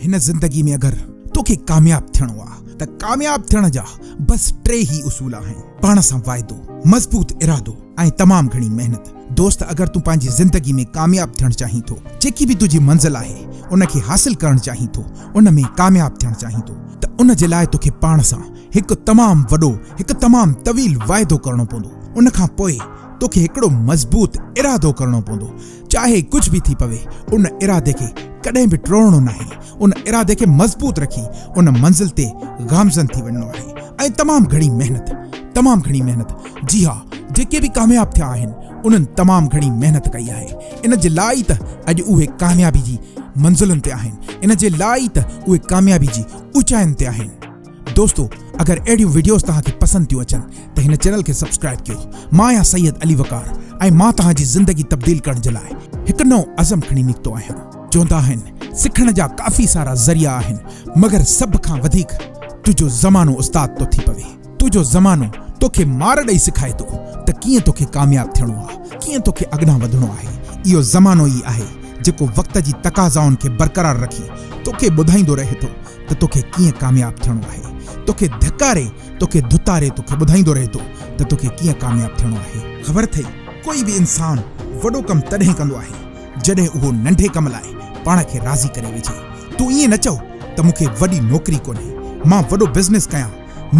هن زندگي ۾ اگر توکي ڪامياب ٿيڻو آ ته ڪامياب ٿيڻ جا بس ٽي هي اصول آهن پاڻ سان واعدو، مضبوط ارادو ۽ تمام گهڻي محنت. دوست اگر تون پنهنجي زندگي ۾ ڪامياب ٿيڻ چاهين ٿو، جيڪي به تنهنجي منزل آهي ان کي حاصل ڪرڻ چاهين ٿو، ان ۾ ڪامياب ٿيڻ چاهين ٿو ته ان جي لاء توکي پاڻ سان هڪ تمام وڏو هڪ تمام طويل واعدو ڪرڻو پوندو ان کان پوء توکي هڪڙو مضبوط ارادو ڪرڻو پوندو چاهي ڪجهه به ٿي پوي، ان ارادي کي ڪڏهن به ٽوڙڻو ناهي، ان ارادي کي مضبوط رکي ان منزل تي گامزن ٿي وڃڻو آهي ۽ تمام گهڻي محنت، تمام گهڻي محنت، جي ها، جيڪي به ڪامياب ٿيا آهن، انهن تمام گهڻي محنت ڪئي آهي، ان جي لاء ئي ته اڄ اهي ڪاميابي جي منزلن تي آهن، ان جي لاء ئي ته اهي ڪاميابي جي اوچائين تي آهن. دوستو اگر اهڙيون وڊيوز توهان کي پسند ٿيون اچن ته هن چينل کي سبسڪرائب ڪيو مان آهيان سيد علي وقار ۽ مان توهان جي زندگي تبديل ڪرڻ جي لاء هڪ نئون عزم کڻي نڪتو آهيان چوندا آهن سکڻ جا ڪافي سارا ذريعا آهن مگر سڀ کان وڌيڪ تنهنجو زمانو استاد ٿو ٿي پوي تنهنجو زمانو توکي مار ڏئي سکائي ٿو ته ڪيئن توکي ڪامياب ٿيڻو آهي ڪيئن توکي اڳڏان وڌڻو آهي اهو زمانو ئي آهي جيڪو وقت جي تقاضائن کي برقرار رکي توکي ٻڌائيندو رهي ٿو ته توکي ڪيئن ڪامياب ٿيڻو آهي، توکي ڌڪاري، توکي ڌتاري توکي ٻڌائيندو رهي ٿو ته توکي ڪيئن ڪامياب ٿيڻو آهي. خبر اٿئي ڪوئي به انسان وڏو ڪم تڏهن ڪندو آهي جڏهن اهو ننڍي ڪم لاء پاڻ کي راضي ڪري ويجهي. تون ائين نه چئو ته مون کي وڏي نوڪري ڪونهي، مان وڏو بزنس ڪيان،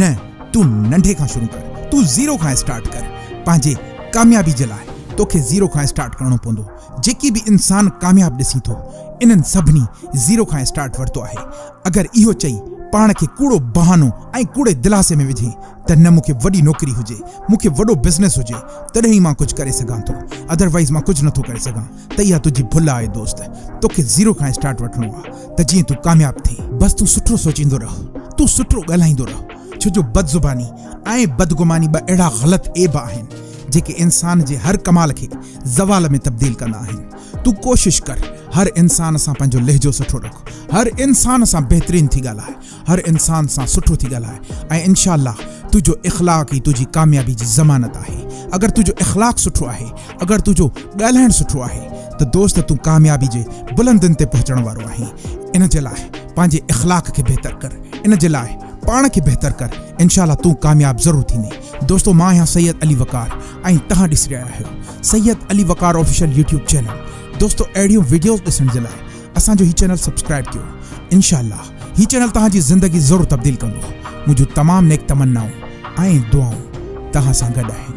نه تون ننڍي کان شروع ڪر، تون زيرو کان اسٽارٽ ڪر، پنهنجي ڪاميابي جي لاء توکي زيرو کان اسٽارٽ ڪرڻو پوندو، جيڪي به انسان ڪامياب ڏسين ٿو انهن سڀني زيرو کان اسٽارٽ ورتو آهي اگر اهو چئي پاڻ کي ڪوڙو بهانو ۽ ڪوڙي دلاسي ۾ وجهين ته نه مون کي وڏي نوڪري هجي مون کي وڏو بزنس هجي تڏهن ئي مان ڪجهه ڪري سگهان ٿو اڌروائيز مان ڪجهه نٿو ڪري سگهان ته اها تنهنجي ڀل آهي دوست توکي زيرو کان اسٽارٽ وٺڻو آهي ته جيئن تون ڪامياب ٿين. بس تون سٺو سوچيندو رهه تون سٺو ڳالهائيندو رهه ڇو جو بد زباني ۽ بدگماني ٻه اهڙا غلط عيب آهن جيڪي انسان جي هر ڪمال کي زوال ۾ تبديل ڪندا آهن. تون ڪوشش ڪر هر انسان سان پنهنجو لهجو سٺو رک، هر انسان سان بهترين ٿي ڳالهاء، هر انسان سان سٺو ٿي ڳالهاء ۽ انشاء الله تنهنجو اخلاق ئي تنهنجي ڪاميابي جي ضمانت آهي. اگر تنهنجو اخلاق سٺو آهي، اگر تنهنجو ڳالهائڻ سٺو آهي ته دوست تون ڪاميابي جي بلندين تي پهچڻ وارو آهين. ان جي لاء پنهنجي اخلاق کي بهتر ڪر، ان جي لاء پاڻ کي بهتر ڪر، انشاء الله تون ڪامياب ضرور ٿيندين. دوستو مان آهيان سيد علي وقار ۽ توهان ڏسي رهيا آهيو Syed Ali Waqar official YouTube channel دوستو اهڙيون وڊيوز ڏسڻ جي لاء اسان جو هي چينل سبسڪرائيب ڪيو انشاء الله هي چينل توهان جي زندگي ضرور تبديل ڪندو منهنجون تمام نيڪ تمنائون ۽ دعائون توهان سان گڏ آهن.